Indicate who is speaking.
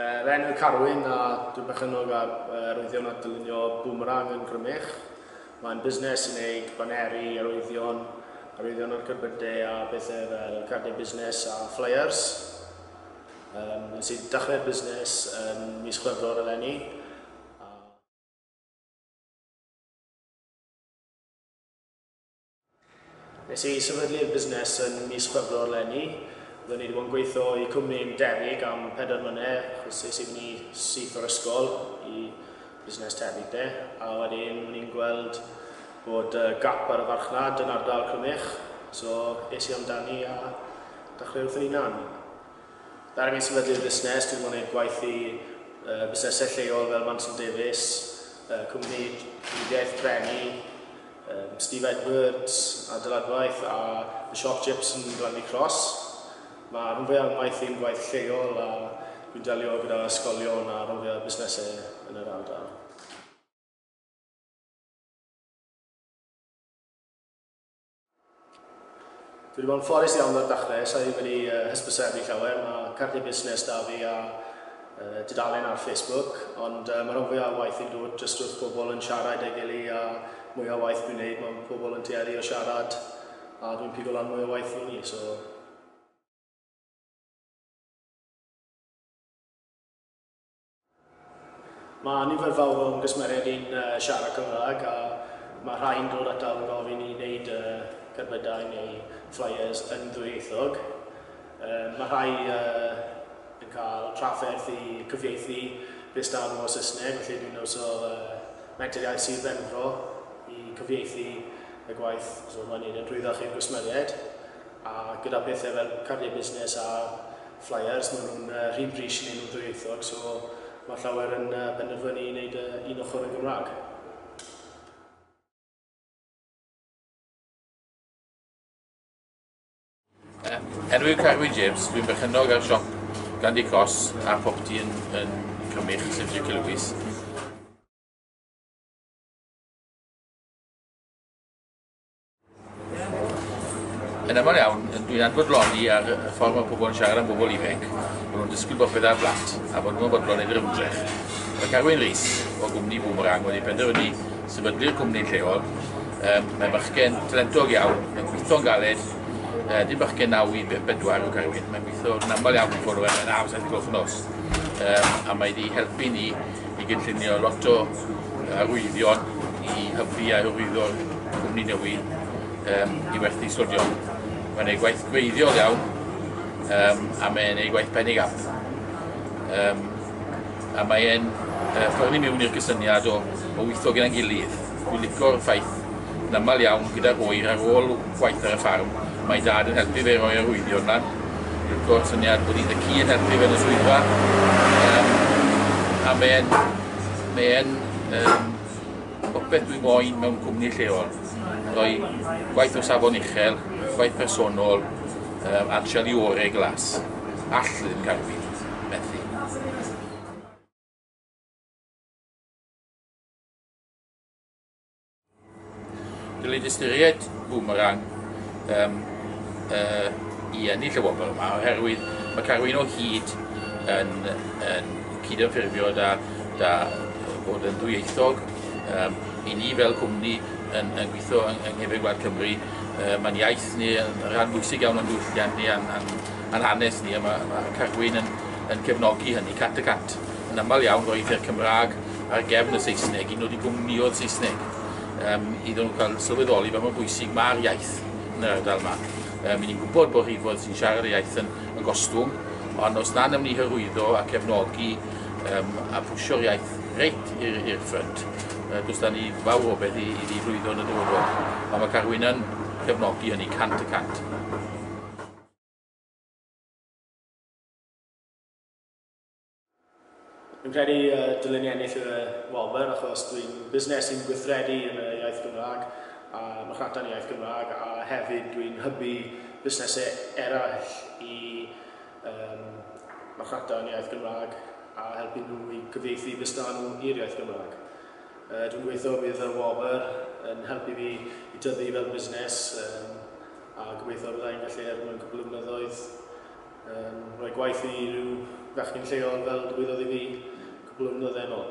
Speaker 1: Fy enw yw Carwyn a dwi'n berchennog ar arwyddion a dylunio Boomerang yn Grymych. Mae'n busnes sy'n ei baneru arwyddion, arwyddion ar gerbydau a bethau fel cardiau busnes a ffleiers. Yym, nes i dechrau'r busnes yn mis Chwefror eleni a... Nes i sefydlu'r busnes yn mis Chwefror 'leni. Roeddwn i wedi bod yn gweithio i cwmni yn debyg am pedair mlynedd, achos es i fyny syth o'r ysgol i busnes tebyg 'de, a wedyn o'n i'n gweld bod yy gap ar y farchnad yn ardal Crymych, so es i amdani a dechrau wrth fy hunan. Fel o'n i'n sefydlu'r busnes, dwi wedi bod yn gwneud gwaith i yy busnesau lleol fel Manson Davies, yy cwmni triniaeth brenu, Yym, Steve Edwards, adeiladwaith, a The Sharp Chips yn Glandy Cross. Mae rhan fwyaf ymaith i'n gwaith lleol a dwi'n delio gyda ysgolion a rhan fwyaf busnesau yn yr ardal. Dwi 'di bod yn ffodus iawn o'r dachle, sa i wedi hysbysebu llawer, mae cardiau busnes 'da fi a dudalen ar Facebook, ond mae rhan fwya' o waith fi'n dod jyst wrth pobl yn siarad 'da'i gily a mwya' o waith dwi'n 'neud mae pobl yn tueddu o siarad a dwi'n pigo lan mwy o waith i ni, so. Mae nifer fawr o'n gwsmeriaid ni'n siarad Cymraeg a mae rhai'n dod ataf yn gofyn i wneud cerbydau neu flyers yn ddwyieithog. Mae rhai yn cael trafferth i cyfieithu Rhys Darn o Saesneg, felly dwi'n iwso Menter Iaith Sir Benfro i cyfieithu y gwaith, so mae'n wneud e'n rhwyddach i'r gwsmeriaid. A gyda pethau fel cardiau busnes a Flyers, maen nhw'n rhy brys i wneud nhw'n ddwyieithog, so mae llawer yn penderfynu i wneud un ochr yn Gymraeg.
Speaker 2: Er yw Carwyn James, dwi'n berchennog ar siop Candy Cross a phopty yn Cymych, sef Dici Lwys. Yn aml iawn, dwi'n anfodloni ar y ffordd mae pobl yn siarad am bobl ifanc, bod nhw'n disgwyl bod pethau blant, a bod nhw'n fodlon i'r ymdrech. Mae Carwyn Rees, o gwmni Boomerang, wedi penderfynu sefydlu'r cwmni lleol. Um, mae bachgen talentog iawn, mae'n gweithio'n galed, uh, dim bachgen 9 i 4 o Carwyn, mae'n gweithio'n aml iawn i ffwrdd o'r enaf, saith gloch nos, um, a mae wedi helpu ni i gynllunio lot o arwyddion i hybu a hyrwyddo'r cwmni newydd um, i werthu sodion. Mae'n ei gwaith gwreiddiol iawn um, a mae'n ei gwaith penig am. Um, a mae'n uh, ffyrnu mewn i'r cysyniad o, o weithio gyda'n gilydd. Dwi'n licio'r ffaith Yn aml iawn, gyda'r oer ar ôl gwaith ar y ffarm, mae Dad yn helpu fe roi arwyddion lan. Go'r syniad bod un y ci yn helpu fe yn y swyddfa. Um, a mae'n mae e'n um, popeth dwi moyn mewn cwmni lleol. Roi gwaith o safon uchel, gwaith personol, um, a'r siali orau glas. All ddim cael fi. Dylid ystyried Boomerang um, uh, i ennill y wobr yma oherwydd mae Carwyn o hyd yn, yn cydymffurfio da, da bod yn ddwyieithog. Um, I ni fel cwmni yn, yn gweithio yng, yng Nghefn Gwlad Cymru, uh, mae'n iaith ni yn rhan bwysig iawn o'n diwylliant ni a'n, an, an hanes ni, a mae, mae Carwyn yn, yn cefnogi hynny cat y cat. Yn aml iawn roedd yr Cymraeg ar gefn y Saesneg i nodi gwmnïoedd Saesneg yym iddyn nhw cael sylweddoli fel mae'n bwysig mae'r iaith yn yr ardal yma. Yym, i ni'n gwybod bod rhif oedd sy'n siarad y iaith yn, yn gostwng, ond os na nawn ni hyrwyddo a cefnogi um, a pwysio'r iaith reit i'r ffrynt, uh, dos da ni fawr o beth i, i ni lwyddo yn y dyfodol. Ond mae Carwyn yn cefnogi hynny cant y cant.
Speaker 1: Dwi'n credu uh, dylen ni ennill y wobr achos dwi'n busnes sy'n gweithredu yn y iaith Gymraeg a marchnata'n iaith Gymraeg a hefyd dwi'n hybu busnesau eraill i um, marchnata'n iaith Gymraeg a helpu nhw i gyfeithi busnes nhw i'r iaith Gymraeg. Uh, dwi'n gweithio bydd y wobr yn helpu fi i tyfu fel busnes um, a gobeithio byddai'n gallu er mwyn cwbl o blynyddoedd Yn rhoi gwaith i rhyw fechgyn lleol fel dywedodd i fi cwpl o flynydde yn ol.